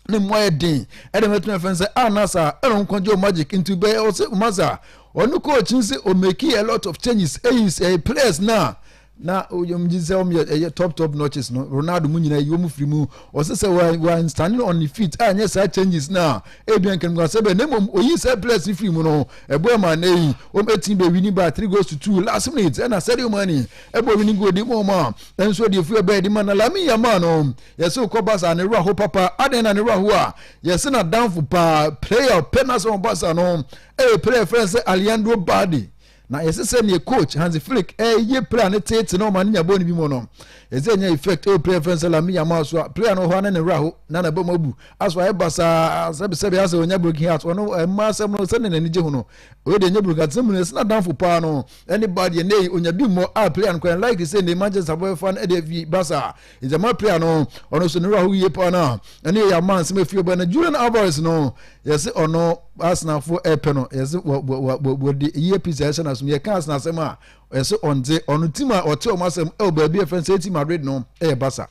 ne mu ayɛ den ɛna wɔn ɛtumi ɛfɛn sɛ anasa ɛna wɔn kɔn gye wɔn magic nti bɛyɛ ɔsɛ umasa ɔno coach n sɛ ɔmɛki a lot of changes ɛyi sɛ players na. Na wɔn gye sɛ wɔn yɛ ɛyɛ top top notches no Ronaldo mu nyinaa yi wɔn firi mu ɔsɛ sɛ wɔn wɔn standing on the feet a nyɛ saa changes na ebi nkankan sɛ bɛ na mmom oyi sɛ players no firi mu no ɛbɔ ɛma na yi wɔn eti bɛ winning by three goals to two last minute ɛna Sadio Mane ɛbɔ winning goal de mu wɔn a nso deɛ firi ɛbɛn de ma na Lamine Yamal no yɛsɛ okɔ Barca ne wura ho papa adan na ne wura ho a yɛsɛ na danfo paa player pɛ na sɛ wɔn Barca no ɛyɛ player fɛn sɛ Alejandro Balde Na yɛse sɛ neɛ coach Hansi Flick ɛɛyɛ player no teete na ɔma no nya bɔɔl no bi mu no, ɛsɛ ɛnya effect ɛwɔ player fɛn sɛ Lamine Yamal so a player no ɔhɔ a na ne werɛ aho na n'abam abu aso ayɛ basaa sɛbe sɛbe asɛ ɔnya broken heart ɔno ɛmma asɛm no sɛdeɛ n'ani gye ho no wei deɛ ɛnyɛ broken heart sɛm no ɛsɛ n'adamfo paa no ɛne ba deɛ na ɛyi ɔnya bi mmɔ a player no kwan likely sɛ ne Manchester bɛfa no ɛde afi basaa Idzama pii ano ɔno so ne werɛ ho yie paa no a ɛne yɛ yɛama nsɛm afiri ɔbɛn no Julian Alvarez no yɛse ɔno asenafo ɛpɛ no yɛse wɔde yie pii sɛ ɛhyɛ no asom yɛka asena asɛm a yɛse ɔndze ɔno tim a ɔte ɔmo asɛm ɛwɔ baabi ɛfɛ nsɛ ɛti Madrid no ɛyɛ Barca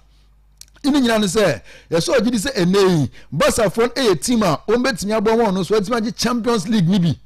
ɛne nyina no sɛ yɛsɛ ɔgye di sɛ ɛnɛ yi Barca fo ɛyɛ tim a wɔn bɛtumi aboa wɔn no so ɛtumi agye Champions League no bi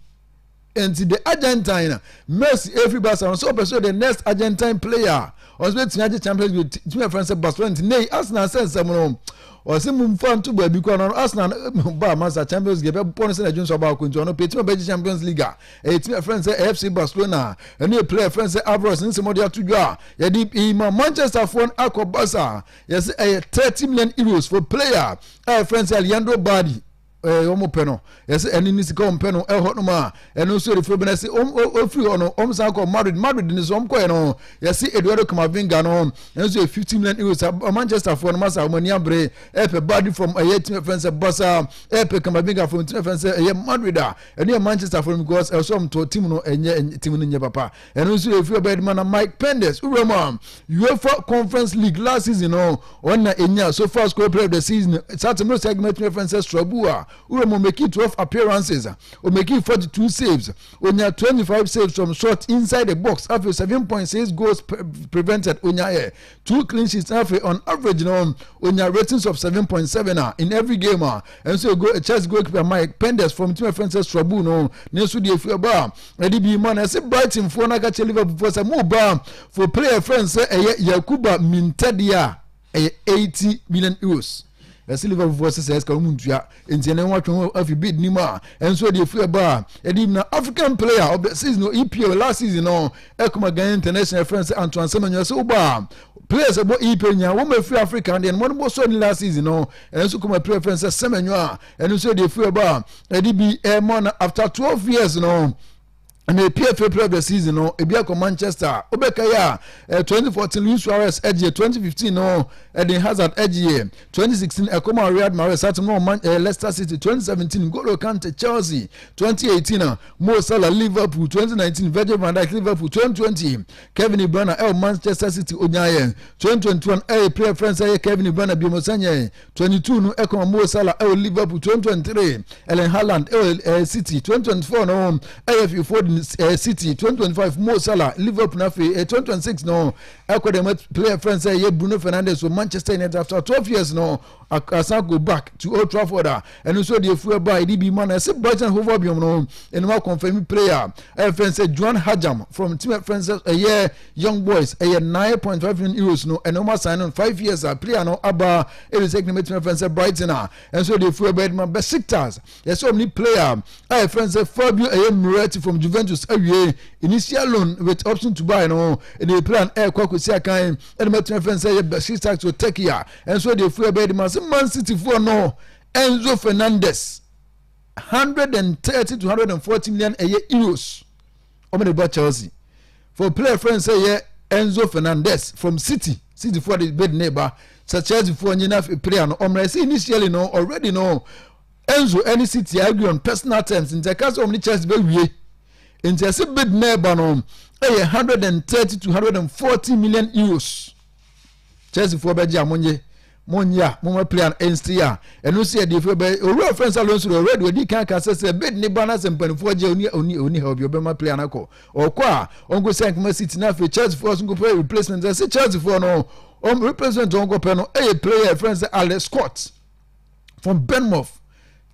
And the Argentine Messi every Barcelona so person the next Argentine player ɔsɛ bɛ tia gye Champions League tìmí ɛfɛn sɛ Barcelona nti ne Arsenal sɛ nsɛm no ɔsɛ mu nfa nto baabi kɔ anɔ Arsenal ba masa Champions League ɛbɛ bɔ no sɛ na ɛdwonsɔ baako nti ɔno pɛ tìmí ɛbɛ gye Champions League a ɛyɛ tìmí ɛfɛn sɛ FC Barcelona ɛne yɛ player ɛfɛn sɛ Alvarez nsɛm ɔde ato dwa a yɛde ima Manchester foɔ no akɔ Barca yɛsɛ ɛyɛ thirty million euros for player a ɛfɛn sɛ Leandro Bardi ɛɛ wɔn pɛ no yɛsɛ ɛne ne sika wɔn pɛ no ɛhɔ nom a ɛno nso erifo bi na ɛsɛ wɔn ofiri hɔ no wɔn san kɔ madrid madrid ne so wɔn kɔɛ no yɛsɛ eduardo kamavinga no ɛnso yɛ fifty million euros a manchester foɔ no masa wɔn ani abere ɛpɛ baadi fam ɛyɛ tìmɛ fɛn sɛ basa ɛpɛ kamavinga fam tìmɛ fɛn sɛ ɛyɛ madrid a ɛne yɛ manchester foɔ no because ɛsɛ wɔn tɔ tìmɛ no ɛnyɛ tìmɛ no nyɛ papa ɛno nso yɛ firi ɔbɛdima na mike penders wura mu a uefa conference league last season no ɔna enya so far score player of the season satem no segment tumi fɛn sɛ strabu a wura mu omeki twelve appearances omeki forty two saves onya twenty five saves from short inside the box afei seven point six goals prevented onya yɛ two clean sheets na afei on average no onya ratings of seven point seven a in every game a ɛnso ego chelsea goalkeeper mike penders fam tumi afɛn sɛ srabu no ne nso deɛ efi ɛbɔ a ɛde bi ma na ɛsɛ brighton foɔ na akakyɛ liverpool foɔ sɛ mo ba for player fɛn sɛ ɛyɛ yakuba mintɛdeɛ a ɛyɛ eighty million euros. Ɛsɛ Liverpool foɔ sɛ sɛ ɛsika wɔn ntua nti ɛnɛ wɔn atwe ho afi bid nim a ɛnso ɛde efi ɛba a ɛde na African player of the season EPL last season no ɛkuma Ghana international ɛfrɛ sɛ Antoine Semenyo ɛsɛ ɔba a players ɛbɔ EPL nyinaa wɔn ɛfiri Africa deɛ no wɔn bɔ so ɛni last season no ɛnso kuma player ɛfrɛ sɛ Semenyo a ɛno nso ɛde efi ɛba a ɛde bi ɛmɔ na after twelve years no. na epia fie player of the season no ebi akɔ manchester wobɛka yi a eh, 2014 luis suarez ɛgyeɛ 2015 no ɛden hazard ɛgyeɛ 2016 ɛkɔma real madrid satem no ɔman eh, leicester city 2017 golo kante chelsea 2018 a mo salah liverpool 2019 virgil van dijk liverpool 2020 kevin ibrana ɛwɔ manchester city onyaayɛ 2021 ɛyɛ player friends ɛyɛ kevin ibrana biomosanyɛ 22 no ɛka wɔn wɔ Salah ɛwɔ Liverpool 2023 Erling Haaland ɛwɔ ɛɛ eh, City 2024 no ɛyɛ Phil Foden ɛɛ eh, City 2025 Mo Salah Liverpool na afei ɛɛ eh, 2026 no ɛkɔ dɛm player friend sɛ ɛyɛ Bruno Fernandes wɔ Manchester United after 12 years no asan go back to Old Trafford a ɛno nso de afuo ɛba a yɛde bi ma na ɛsɛ boys and hova biom no ɛnum akɔnfɛmi player ɛyɛ fɛn sɛ joan hajam from team fɛn sɛ ɛyɛ young boys ɛyɛ nine point five million euros no ɛnum asan no five years a player no aba ɛde sɛ ɛkɛnɛmɛ team fɛn sɛ brighton a ɛnso de afuo ɛba ɛde ma besiktas yɛsɛ ɔmo ne player ɛyɛ fɛn sɛ fabio ɛyɛ miretti from juventus awie initial loan with option to buy no ɛde player ɛkɔ akɔsi akan ɛde ma team fɛn sɛ ɛyɛ besiktas to turkey a Ɛnso deɛ firi ɛbɛyɛ de ma se Man City foɔ no Enzo Fernandez 130 to 140 million ɛyɛ euros wɔn de ba Chelsea for player friend sɛ yɛ Enzo Fernandez from City City foɔ de bid ne ba sɛ Chelsea foɔ nye na player no ɔmrɛ sɛ initially no already no Enzo ɛne City agree on personal terms nti ɛka sɛ wɔn ne Chelsea bɛ wie nti ɛsɛ bid ne ba no ɛyɛ 130 to 140 million euros. chelsea foɔ bɛgye a monye monye a moma play an ɛnsi a ɛno si ɛde fɛ bɛ owura fɛn sa lonso already odi kan ka sɛ sɛ bid ne ba na sɛ mpanimfoɔ gye oni oni oni ha obi ɔbɛma play an akɔ ɔkɔ a ɔnko sɛ nkoma city na afei chelsea foɔ so nkɔpɛ replacement sɛ chelsea foɔ no ɔm replacement ɔnkɔpɛ no ɛyɛ player fɛn sɛ alex scott from benmouth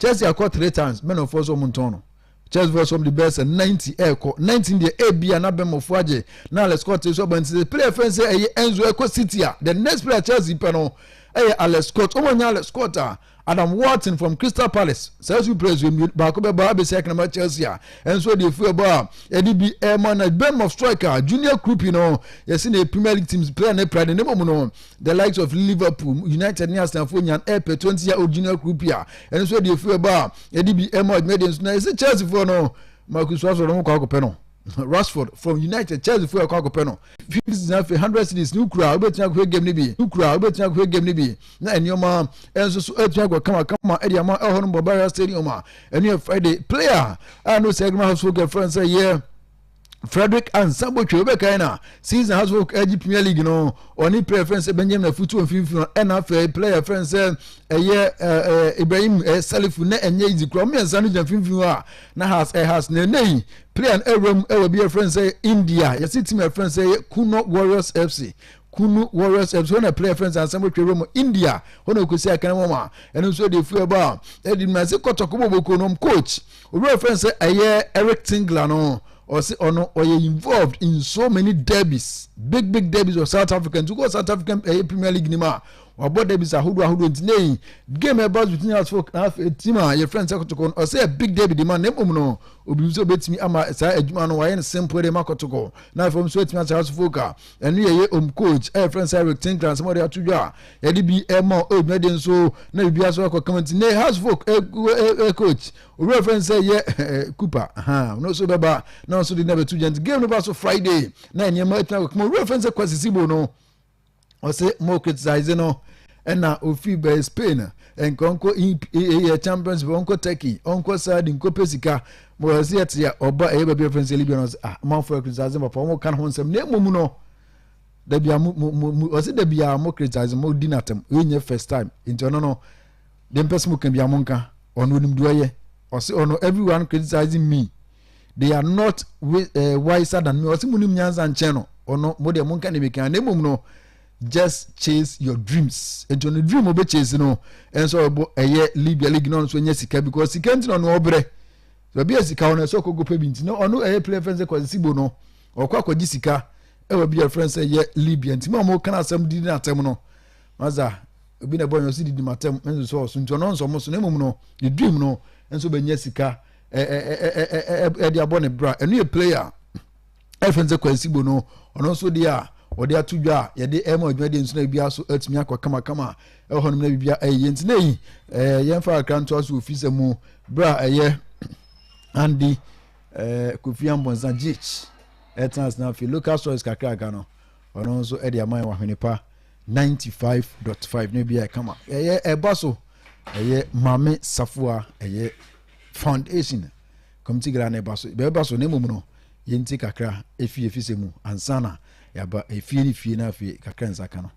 chelsea akɔ three times mɛnɔfoɔ so ɔmo ntɔn no Church Voice wɔn de bɛyɛ sɛ ninety ɛrekɔ nineteen deɛ ebi a n'abɛmɔfo agye na Alex Scott nso aba nti sɛ player fɛn sɛ ɛyɛ Enzo ɛkɔ City a the next player Chelsea pɛ no ɛyɛ Alex Scott wɔn anya Alex Scott a Adam Wharton from Crystal Palace saa nso players yɛ mmienu baako bɛba abɛsi akanama Chelsea a ɛnso deɛ efu ɛbɔ a ɛde bi ɛma na bɛmɔ striker Junior Krupi no yɛsi na Premier League teams player ne player ne ne mu no The likes of Liverpool, United ne Arsenal fo nyan ɛpɛ 20 year old junior group a ɛno nso ɛde efiri ɛbɔ a ɛde bi ɛma ɔdwuma ɛde nso na ɛsɛ Chelsea fo no Marcus Rashford no kɔ akɔpɛ no Rashford from United Chelsea fo ɛkɔ akɔpɛ no fifty six afei hundred series ne kura wobɛtumi akɔhwɛ game no bi ne kura wobɛtumi akɔhwɛ game no bi na nneɛma ɛnso so ɛtumi akɔ kama kama ɛde ama ɛhɔ no Bavaria Stadium a ɛno yɛ Friday player a no sɛ ɛgbɛn ahosuo kɛfrɛ no sɛ yɛ frederick ansa botwe wobɛkae na season has folk agye premier league no ɔne player fɛn sɛ benjamin afutuo mfimfini ɛna afei player fɛn sɛ ɛyɛ ibrahim salifu na ɛnyɛ izi kura mmiɛnsa no gyina mfimfini a na has ɛhas na ɛnɛ yi player no ɛwura mu ɛwɔ bi ɛfɛn sɛ india yɛsi tim ɛfɛn sɛ ɛyɛ kuno warriors fc kunu warriors fc hɔ na player fɛn sɛ ansa botwe wura mu india hɔ na ɔkɔsi akana wɔn a ɛno nso ɛde efu ɛbɔ a ɛde mu ase kɔtɔkɔ bɔbɔkɔ nom coach Obi a wɔfrɛ no sɛ ɛyɛ Eric Tingler no, ɔse ɔno ɔyɛ involved in so many derbies, big big derbies wɔ South Africa. Nti wokɔ South African ɛyɛ eh, Premier League nim a, wabɔ derbies ahodoɔ ahodoɔ. Nti na yi game ɛba between us folk na afei team a yɛfrɛ no sɛ kɔtɔkɔ no, ɔsɛ yɛ big derby de ma na mmom no, obi sɛ obɛtumi ama saa adwuma no wayɛ no simple de ma kɔtɔkɔ na afei ɔm so atumi asɛ us folk a ɛno yɛ yɛ om coach ɛyɛ fɛn sɛ eric tinkra nsɛm ɔde ato dwa a yɛde bi ɛma o edwuma de nso na biribi aso akɔ kama ti ne house folk ɛ ɛ ɛ coach obi fɛn sɛ yɛ ɛ cooper ha ɔno nso bɛba na ɔno nso de na bɛto dwa nti game no ba so friday na nneɛma atina akɔ kama obi fɛn sɛ kwasisi bo no ɔsɛ mo criticize no. Ɛna ɔfiri bɛɛ Spain a, ɛnka ɔnkɔ ɛyɛ Champions League, ɔnkɔ Turkey, ɔnkɔ Saudi, nkɔpɛ sika. Ma wɔyɛ sɛ yɛte a ɔba ɛyɛ baabi afɛn sɛ Libya no sɛ ah ɔmanfo yɛ criticize papa wɔn ka ne ho nsɛm na mmom no dabi a mo mo mo ɔsɛ dabi a mo criticize mo di n'atam yɛ nyɛ first time nti ɔno no deɛ mpɛ sɛ mo ka bi a mo nka ɔno onim deɛ ɔyɛ ɔsɛ ɔno everyone criticizing me they are not eh, wiser than me ɔsɛ mo nim nyansa nkyɛn no ɔno mo deɛ mo nka ne mi kan na mmom no. just chase your dreams nti ɔno dream ɔbɛ chase no ɛnso ɔbɔ ɛyɛ libya league na ɔno nso nyɛ sika because sika nti na ɔno ɔbrɛ baabi a sika ɔno ɛsɛ ɔkɔ gopɛ bi nti na ɔno ɛyɛ player fɛn sɛ kwasi sibo no ɔkɔ akɔgye sika ɛwɔ bi a fɛn sɛ yɛ libya nti ma ɔmo kan asɛm didi na atɛm no maza obi na ɛbɔ nyɛ ɔsi didi ma atɛm ɛnso so ɔso nti ɔno nso ɔmo so na mmom no ne dream no ɛnso bɛ nyɛ sika ɛɛ ɛɛ ɛɛ ɛɛ ɛde abɔ ne bra ɛno yɛ player. ɛfɛn sɛ kwansibo no ɔno nso deɛ a wɔde ato dwa a yɛde ɛma adwumadeɛ nso na biribiara so atumi akɔ kamakama ɛwɔ hɔnom na biribiara ɛyɛ nti na yi ɛɛ yɛmfa akra ntoa so ofi sɛ mu berɛ a ɛyɛ andi ɛɛ kofi ambɔnsa gh ɛtena ase na afei local stories kakraka no ɔno nso ɛde ama yɛn wɔ ahwene pa ninety five dot five na biribiara ɛkama ɛyɛ ɛba so ɛyɛ maame safoa ɛyɛ foundation. Committee Gala no ɛba so, ɛbɛba so na mmom no yɛnti kakra ɛfie fi sɛ mu ansa na yɛaba ɛfie ne fie na afei kakra nsa ka no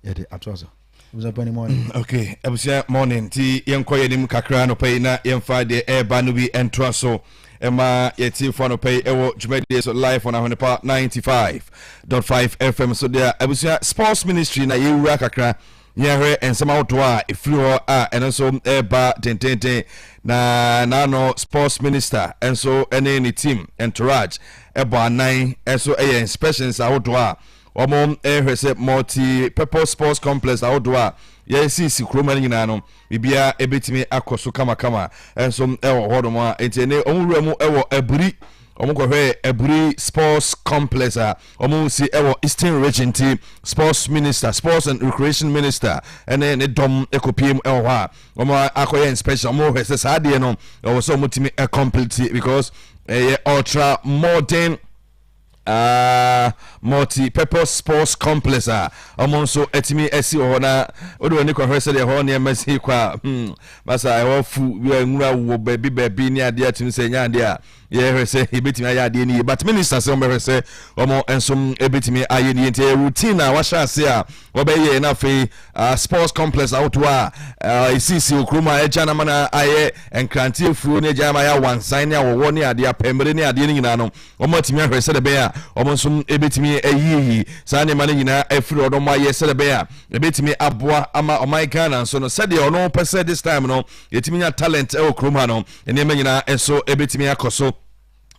yɛde atoa so. Abusua pani morning. Mm, okay, abusua morning ti yɛnkɔ yɛn anim kakra anɔpa yi na yɛmfa deɛ ɛreba no bi ɛntoa so ɛma yɛtiefo anɔpa yi ɛwɔ dwumadie so live on Ahonepa 95.5 FM so deɛ abusua sports ministry na yɛwura kakra Yɛhwɛ nsɛm ahodoɔ a ɛfiri hɔ a ɛno nso reba dendeenden, na n'ano sports minister nso ne ne team entourage bɔ anan nso yɛ inspections ahodoɔ a wɔhwɛ sɛ multi-purpose sports complex ahodoɔ a yɛsisi kurom ha no nyinaa no biribiara ɛbɛtumi akɔ so kamakama nso wɔ hɔnom a nti ɛne wɔn wura mu wɔ aburi wɔn kɔhwɛ aburi sports complex a Ɔmo si ɛwɔ Eastern Region nti Sports Minister, Sports and Recreation Minister ɛne ne dɔm ɛkɔpie mu ɛwɔ hɔ a ɔmo akɔyɛ inspection, ɔmo hwɛ sɛ saa adeɛ no ɛwɔ sɛ ɔmo tumi ɛcomplete because ɛyɛ ultra modern uh, multi-purpose sports complex a ɔmo nso atumi asi wɔ hɔ na wode w'ani kɔhwɛ sɛdeɛ hɔ nneɛma si kɔ a hmm, basa ɛwɔ fu nwura wɔ baabi baabi ne adeɛ atumi sɛ ɛnyɛ adeɛ a Yɛhwɛ sɛ yɛbɛtumi ayɛ adeɛ no yie but ministers wɔn bɛhwɛ sɛ wɔn nso bɛtumi ayɛ no yie nti ɛyɛ routine a wahyɛ ase a wɔbɛyɛ na afei uh, sports complex ahodoɔ a uh, ɛsisi wɔ kurom a agya no ama no ayɛ nkrante afuo ne agya no ama ayɛ awansan ne awɔwɔ ne adeɛ apɛmmere ne adeɛ no nyinaa no wɔn atumi ahwɛ sɛ dɛbɛn a wɔn nso bɛtumi ayiyi saa nneɛma no nyinaa afiri hɔ na wɔn ayɛ sɛ dɛbɛn a ɛbɛtumi aboa ama ɔman Ghana nso no sɛdeɛ ɔno pɛ sɛ this time no yɛtumi nya talent ɛwɔ kurom ha no nneɛma nyinaa nso bɛtumi akɔ so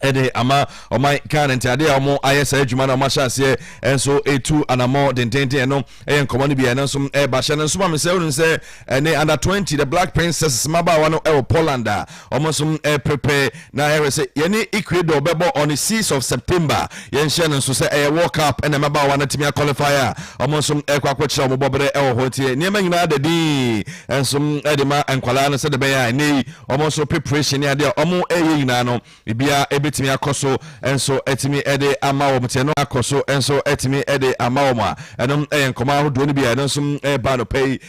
de ama ɔman ghana nti adeɛ a wɔn ayɛ saa adwuma na wɔn ahyɛ aseɛ nso etu anamɔ dendenden ɛno ɛyɛ nkɔmɔ no bi a ɛno nso ɛba hyɛ no nso ma mi sɛ ɔnu sɛ ɛne under twenty the black princess mmabaawa no ɛwɔ poland a wɔn nso ɛpepɛ na ɛhwɛ sɛ yɛne ecuador bɛbɔ on the six of september Yɛnhyɛ no nso sɛ ɛyɛ World Cup na mmabaawa no atumi akɔlifai a, wɔn nso rekɔ akɔkyerɛ wɔn bɔberɛ wɔ hɔ. Nti nneɛma nyinaa da dinn nso de ma nkwadaa no sɛdeɛ ɛbɛyɛ a ɛnnɛ yi wɔn nso preparation ne adeɛ a wɔreyɛ nyinaa no, biribiara bɛtumi akɔ so nso atumi de ama wɔn. Nti ɛno akɔ so nso atumi de ama wɔn a, ɛno yɛ nkɔmmɔ ahodoɔ no bi a ɛno nso reba anɔpa yi.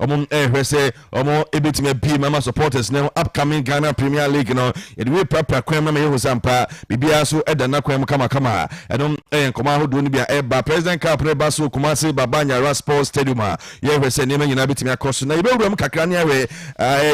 Wɔn ɛhwɛ sɛ wɔn ɛbɛtumi abie mu ama supporters no upcoming Ghana Premier League no. Yɛde wei prapra kwan mu ama yɛhu sɛ ampa biribiara so ɛda nna kwan mu kamakama. Ɛno ɛyɛ nkɔmɔ ahodoɔ no bi a ɛba President Cup no ɛba so Kumasi Baba Nyara Sports Stadium a yɛhwɛ sɛ nneɛma nyinaa bɛtumi akɔ so. Na yɛbɛwura mu kakra ne ahwɛ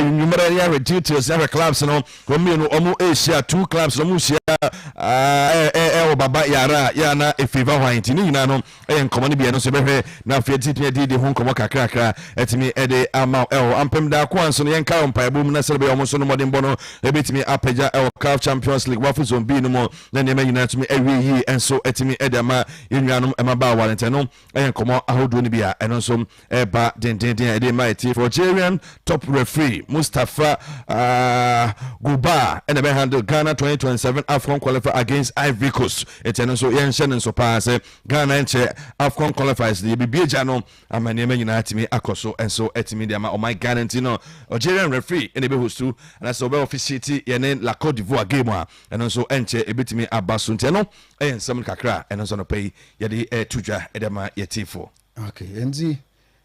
nnwummerɛ ne ahwɛ details ne ahwɛ clubs no wɔn mmienu wɔn ɛrehyia two clubs no wɔn hyia ɛwɔ Baba Yara yɛ ana ɛfavor hwan nti ne nyinaa no yɛ nkɔmmɔ no bi a, ɛno nso yɛbɛhwɛ, na afei yɛde tumi adi de ho nkɔmmɔ kakrakra atumi de ama wo ɛwɔ ampem da ko a nso no yɛnkae wɔ mpaebɔ mu na sɛdeɛ bɛyɛ wɔn nso no mmɔdenbɔ no ɛbɛtumi apagya ɛwɔ CAF Champions League Wafu Zone B no mu na nneɛma nyinaa atumi awie yie nso atumi de ama yɛn nuanom mmabaawa no nti ɛno yɛ nkɔmmɔ ahodoɔ no bi a ɛno nso ɛreba dendeenden a ɛde rema atiefo. Algerian top referee Mustafa uh, ah, Goubaa ɛna ɛbɛ handle Ghana 2027 AFCON qualifier against Ivory Coast. Ɛti ɛno nso yɛnhyɛ no nso paa sɛ Ghana nkyɛ AFCON qualifiers no yɛbibie gya no ama nneɛma nyinaa atumi akɔ so nso atumi de ama ɔman Ghana nti no Algerian referee ɛna ɛbɛ hostu anaasɛ ɔbɛ officiate yɛne La Cote d'Ivoire game a ɛno nso ɛnkyɛ ɛbɛtumi aba so nti ɛno ɛyɛ nsɛm kakra ɛno nso anɔpɛ yi yɛde ɛto dwa ɛde ama yɛtiefo. Okay, nti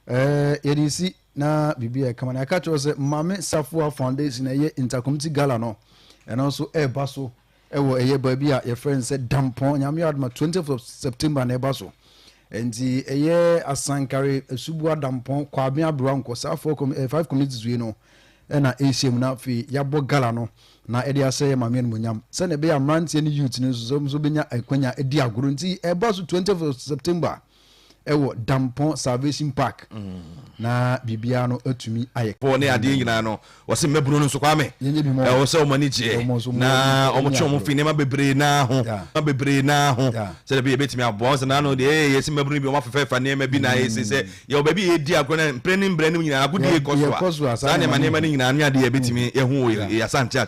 eh, yɛde si na biribi a ɛkama na ɛka kyerɛ sɛ Maame Safoa Foundation ɛyɛ ntakomti gala no ɛno nso ɛreba so ɛwɔ ɛyɛ baabi a yɛfrɛ no sɛ Dampɔn Nyame Adoma 20th of September na ɛba so nti ɛyɛ Asankare Asubua Dampɔn Kwabea Aberewa Nkɔ saa four com eh, five communities wei no ɛna ɛhyia mu na afei yɛabɔ gala no na ɛde ahyɛ yɛ maame animonyam sɛnea ɛbɛyɛ mmeranteɛ ne youth no nso sɛ wɔn nso bɛnya akwanya adi agoro nti ɛba so 20th of September ɛwɔ Dampɔn Salvation Park na biribiara no atumi ayɛ. Pɔn ne adeɛ nyinaa no wɔsi mmɛbunu no nso kwame ɛwɔ sɛ wɔn ani gyeɛ na wɔn twe wɔn fi nneɛma bebree naa ho nneɛma bebree naa ho sɛdeɛ bɛyɛ bɛtumi aboa wɔn sɛ naanu deɛ ɛyɛ yɛsi mmɛbunu no bi wɔn afɛfɛɛfa nneɛma bi na ayɛ si sɛ yɛwɔ baabi yɛ di agorɔ na mprɛ ne mbrɛ no nyinaa agodie kɔ so a saa nneɛma nneɛma no nyinaa ne adeɛ yɛ bɛtumi yɛ ho yɛ asante akyɛ.